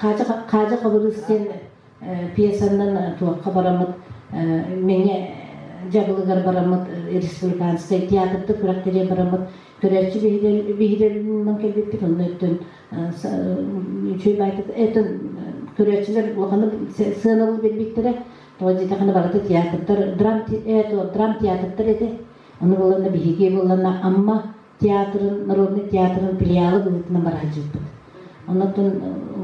Хаадьа Хабырыыс диэн пьесанан туохха бараммыт Мэҥэ дьабылыгар бараммыт республиканскай театрдык күрэхтэриэ бараммыт көрөөччү биһирэлинэн кэлбиппит онно өттүн үчүгэй байтат этин көрөөччүлэр улаханы сыаналы билбиттэрэ Тоҕо диэтэхинэ барыта театрдар, драм, э, драм театрдар этэ. Ону буланна биһиги буланна Амма театрын, народнай театрын филиалы быһыытынан бара сылдьыбыт. Онон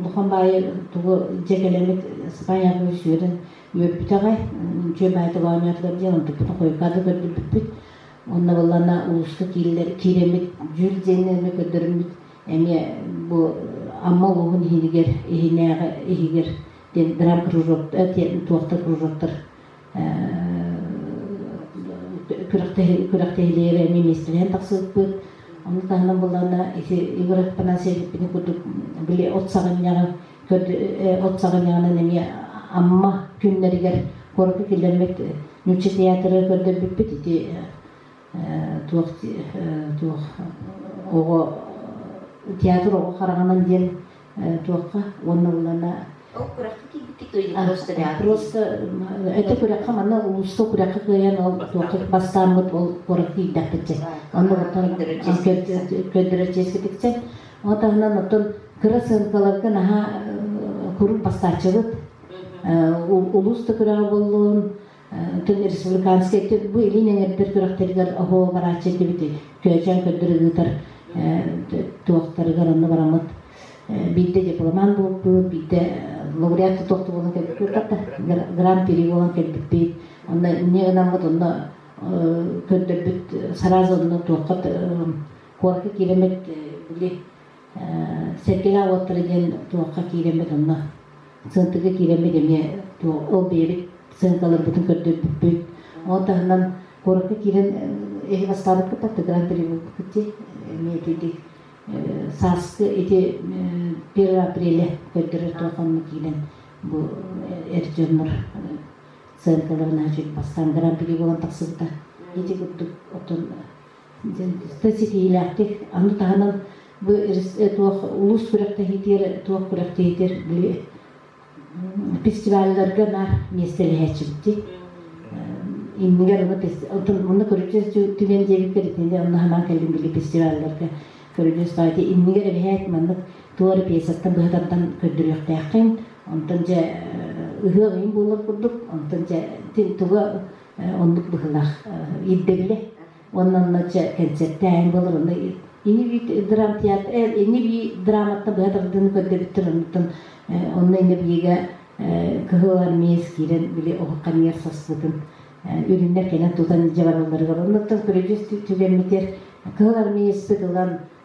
улахан баайы тугу дьэ кэлэмит Испаниябы сүөрүн үөрбүтэ аҕай. Үчүгэй баайыта оонньоотугар диэн ордуппутун хойукаады көрдөрбүппүт. Онно буланна улууска киирилэр киирэммит дьүл диэни эмиэ көрдөрүммүт эмиэ бу Амма улууһун иһигэр иһинээҕи иһигэр диэн бэрэ природта диэн туохта природтар күрэхтэһиилэри эмиэ миэстэлээн тахсыбыппыт ону таһынан былаана ити Егор Афанасьевичпыны курдук били от саҕынньаҕы от саҕынньаҕынан эмиэ Амма күннэригэр куоракка киллэрбит нуучча театры көрдөрбүппүт ити туох туох оҕо театр оҕо хараҕынан диэн туохха уонна улаана ол күрэххэ киирбиккит просто этэ күрэххэ манна улууска күрэххэ кыайан ол туохха бастааммыт ол куорат киирдэхпитчэ онно оттон көрдөрө чиэскитикчэ ол таһынан оттон кыра сыанкаларга наһаа куруук бастааччыбыт улуус да күрэҕэ буоллун Төннөр республиканскай бу илин эҥэрдэр күрэхтэригэр оһо барааччы этибит Күөчээн көрдөрө ыытар туохтарыгар онно бараммыт биирдэ дипломан буолбут, биирдэ лауреат тохту буолан кэлбиппит да гран-при буолан кэлбиппит. Онно эмне ынаммыт онно көрдөрбүт сразу онно туоххат куоракка кииреммит били Сэргэлээх уоттара диэн туохха киирэммит онно сыантыга киирэммит эмиэ ол бэйэбит сыаҥкаларбытын көрдөрбүппүт. Ол таһынан куоракка киирэн эһи бастаабыппыт да Гран при буолбуппут дии. Эмиэ итиити сааскы ити первое апреля көрдөрөр туох онно киирэн бу эр дьоннор сыаҥкаларын аһаччы бастаан Гран при буолан тахсыбыта. Ити курдук оттон Сэ ситиһиилээхтик аны таһынан бу туох улуус күрэхтэһиитигэр туох күрэхтэһиитигэр били фестивалларга наар миэстэлэһээччибитий иннигэр манна көрүдьүөс түгэн диэбиппэр итини онно санаан кэллим били фестивалларга көрүдьүөс баайда иннигэр эбэһээт маннык туора пьесаттан быһа тардан көрдөрүөхтээххин онтон дьэ ыһыах ыйын буолар курдук онтон дьэ туга оннук быһылах ирдэллэ уонна онно кэнсэртээһин болор онно ини би драм театр ини би драматтан быһа тардыыны көрдөбүттэр оннуттан онно ини биигэ кыһыл армеец киирэн били олохханыгар саспытын үрүннэр кэнэн тутан дьабаналларыгар оннуттан көрүдьүс түгэммитер кыһыл армеецпит ылан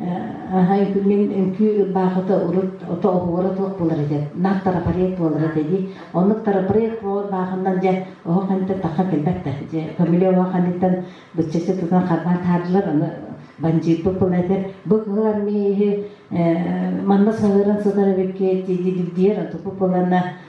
Мин үҥкүү баахыта урут ото оһуора туох буолар этэ, наар тарапарыат буолар этэ дии. Оннук тарапарыат буолар баахыннан дьэ оһох хантан тахха кэлбэт да. Дьэ көмүлүөк оһох анньыттан быччаччы тутан харбаан таһаардылар, аны бандьыырбыт буолар этэ. Бу кыһылан мин иһи манна саһыыран сытар эбиккит дии дилбиэр, онтукпут буоланна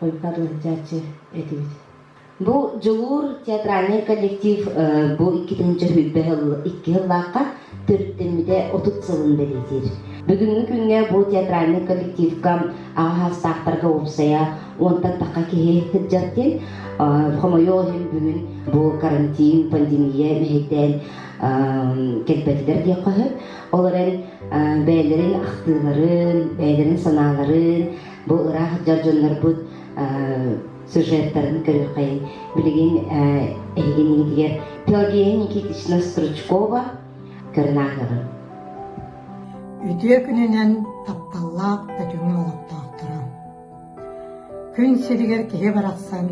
Койкат уһутчааччы этибит. Бу Дьулуур театральный коллектив бу иккитинчи сүүрбэ сыл икки сыллаахха төрүттэммитэ отут сылын бэлиэтиир. Бүгүҥҥү күҥҥэ бу театральный коллективка аҕа саастаахтарга уопсайа уонтан тахха киһи кырдьартын хомойуох иһин бүгүн бу карантин пандемия мэһэйдээн кэлбэтилэр диэххэ сөп. Ол эрэн бэйэлэрин ахтыыларын, бэйэлэрин санааларын бу ыраах сылдьар дьоннорбут сюжеттарын көрүөххэ билигин эһигиниитигэр Пелагея Никитична Стручкова көрүнааһыгын Үтүө күнүнэн тапталлаах өтүҥү олохтоохторо Күн сиригэр киһи барахсан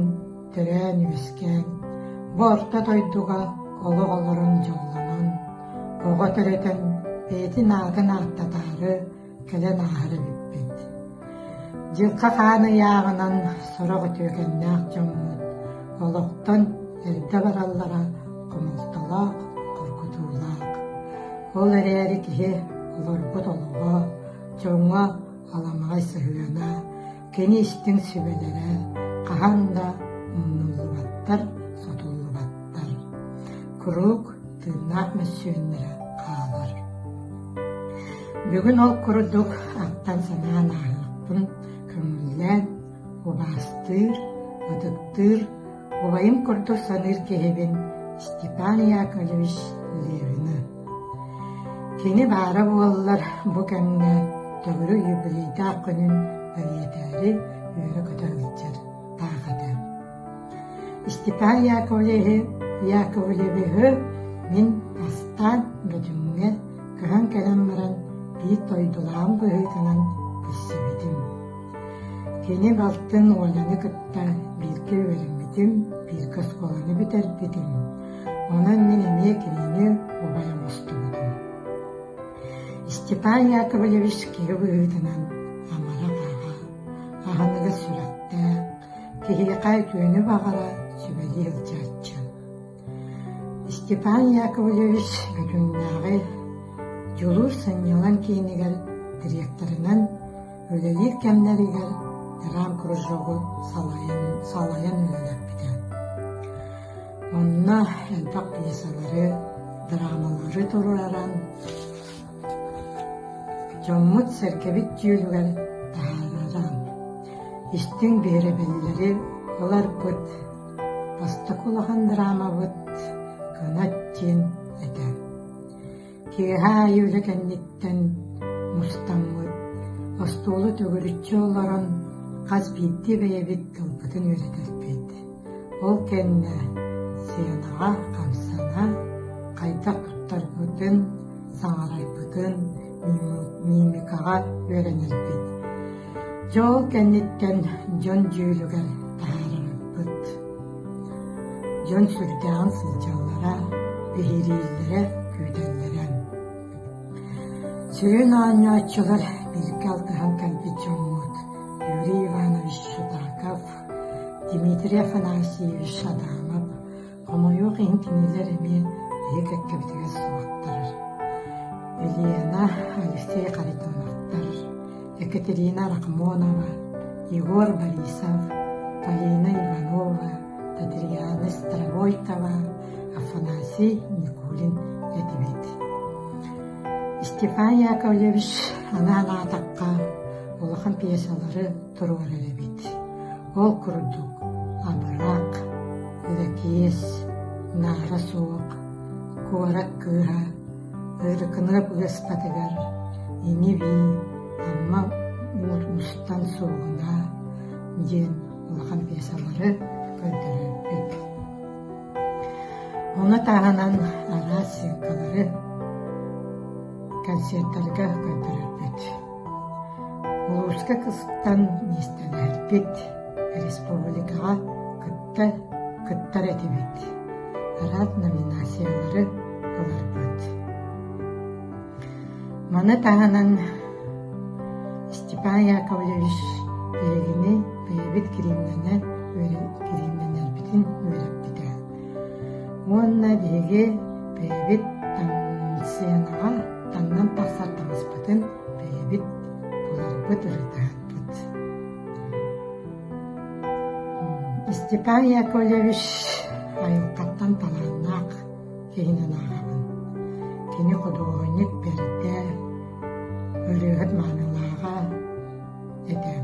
төрөөн үөскээн бу орто дойдуга олох олорон дьоллонон оҕо төрөтөн бэйэтин аатын ааттатаары кэлэн ааһар эбиппин. Дьылҕа хаан ыйааҕынан сорох үтүөкэннээх дьоммут олохтон эрдэ бараллара хомолтолоох, тургутуулаах. Ол эрээри киһи олорбут олоҕо, дьоҥҥо аламаҕай сыһыана, Кини истиҥ сүбэлэрэ хаһан да умнуллубаттар, сотуллубаттар. Куруук тыыннаах мөссүөннэрэ хаалар. Бүгүн ол курдук аттан-санаан ааһыахпын көҥүллээн, убаастыыр, ытыктыыр Убайым курдук саныыр киһибин Степан Яковлевич Левины. Кини баара буоллар бу кэмҥэ төгүрүк юбилейдаах күнүн эриэтээри үөрэ-көтө сылдьар таах этэ. Степан Яковлевиһы, Яковлевиһы мин астаан бөтүмҥэр көһөн кэлэн баран биир дойдулаан быһыытынан билсибитим Кини балтын Оляны кытта бииргэ үөрэммитим, бииргэ оскуоланы бүтэрбитим. Онон мин эмиэ кинини убайа мустубутум. Степан Яковлевич киһи быһыытынан амара-таҕа, аһыныгас сүрэхтээх, киһиэхэ үтүөнү баҕара, сүбэлии сылдьааччы Степан Яковлевич Бүтүннээҕи дьулуур сынньалаҥ киинигэр директорынан үлэлиир кэмнэригэр драмкружогу салайан үлэлэппитэ. Онно элбэх пьесалары, драмалары туруоран, дьоммут-сэргэбит түөлүгэр таһаараран, истиҥ биэрэбиллэри ыларбыт, Бастакы улахан драмабыт «Кынат» диэн этэ. Киэһэ аайы үлэ кэнниттэн мустаммыт, остуолу төгүрүччү олорон хас биирдии бэйэбит тылбытын үөрэтэрбит. Ол кэннэ сценаҕа хамсана хайдах туттарбытын, саҥарарбытын мимикаҕа үөрэнэрбит. Дьол кэнниттэн дьон дьүүлүгэр таһаарыммыт. Дьон сүрдээҕин сылдьаллара, биһирииллэрэ, күүтэллэрэ. Сүрүн оонньооччулар бииргэ алтыһан кэлбит дьоммут Юрий Иванович Шутаков, Дмитрий Афанасьевич Адамов, Хомойуох иһин кинилэр эмиэ эһи кэккэбитигэр суоттар. Елена, Алексей Харитоновтар, Екатерина Рахмонова, Егор Борисов, Полина Иванова, Татьяна Стравойтова, Афанасий Никулин этибит. Степан Яковлевич анаан аатахха улахан пьесалары туруорар эбит. Ол курдук абыраак, лэкиэс, наара суох, куорат кыыһа, Ырыкынап ыаскатыгар ини-бии Амма уут мустан суоҕуна диэн улахан пьесалары көрдөрөрбүт. Ону таһынан араас съемкалары концертарга көрдөрөрбүт. Волжска кыстан миэстэлэһэрбит, республикаҕа кытта кыттар этибит, араас номинациялары ыларбыт. Маны таһынан Степан Яковлевич билигини бэйэбит кириимнэнэн үөрэ- кириимнэнэрбитин үөрэппитэ. Уонна биһиги бэйэбит таҥсыйанаҕа таҥнан тахсар таҥаспытын бэйэбит буларбыт, ырытыһарбыт. Степан Яковлевич айылҕаттан талааннаах киһинэн ааҕабын. Кини худуоһунньук бэртэ, ырыаһыт маанылааҕа этэ.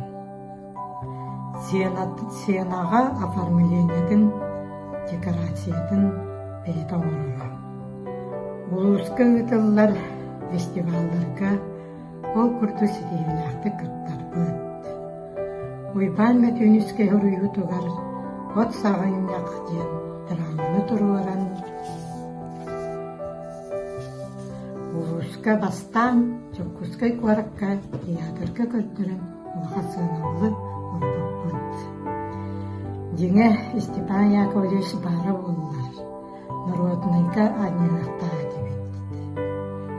Сенаҕа оформлениетын, декорациятын бэйэтэ оҥороллор. Улууска ыытыллар фестивалларга ол курдук ситиһиилээхтик кыттарбыт. Уйбаан Мөтүүнүскэй хоруйуутугар «От саҕынньах» диэн драманы туруоран улууска бастаан Дьокуускай куоракка театрга көрдөрөн Улахан сыаналаах олоппоппут. Дьиҥэ, Степан Яковлевич баара буоллар, норуотунайга анньыахтаах этибит.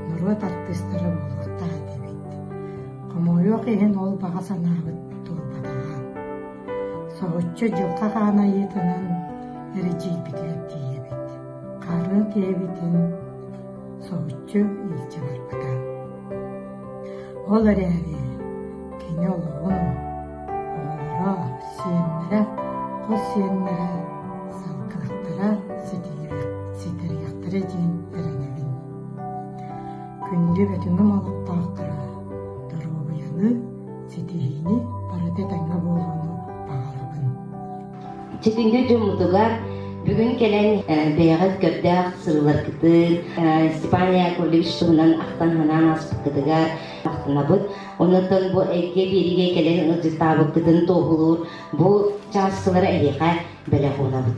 Норуот артыыстара буолуохтаах этибит. Хомойуох иһин ол баҕа санаабыт турбатаҕа. Соһуччу дьылҕа хаан айыытынан эридьийбитигэр тиийэбит. Хаарын киһибитин соһуччу илдьэ барбыта. Ол эрээри кини олоҕун, оҕолоро, сиэннэрэ, хос сиэннэрэ салгынаттара ситэриэхтэрэ диэн эрэнэбин. Күндү бөтүҥүм олохтоохторо, доруобуйаны, ситиһиини барыта этэҥҥэ буолууну баҕарабын Ситиҥҥэ дьоммутугар бүгүн кэлэн бэйэҕит көрдөөх сырыыларгытын Степан Яковлевич туһунан ахтан-санаан ааспыккытыгар махтанабыт. Онон бу эйгэ биэриигэ кэлэн ыалдьыттаабыккытын туоһулуур бу чааскылара эһиэхэ бэлэх уунабыт.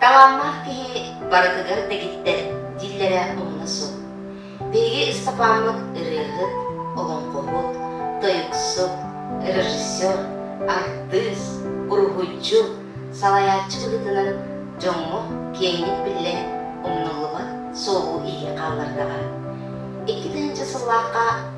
Талааннаах киһи барытыгар дэгиттэр дииллэрэ умна суох. Биһиги Ыстапаамыт ырыаһыт, олоҥхоһут, тойуксут, режиссер, артыыс, уруһуйдьу, салайааччы быһыытынан дьоҥҥо киэҥник биллэн умнуллубат суолу иһии хааллардаҕа. Икки тыһыынча сыллаахха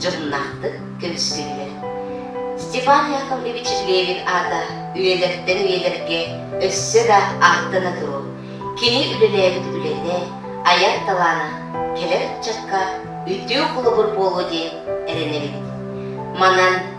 дьоннаахтык көрүстүллэр. Степан Яковлевич Левин аата үйэлэртэн үйэлэргэ өссө да ааттана туруо, кини үлэлээбит үлэтэ, айар талаана кэлэр ыччакка үтүө холобур буолуо диэн эрэнэбин. Манан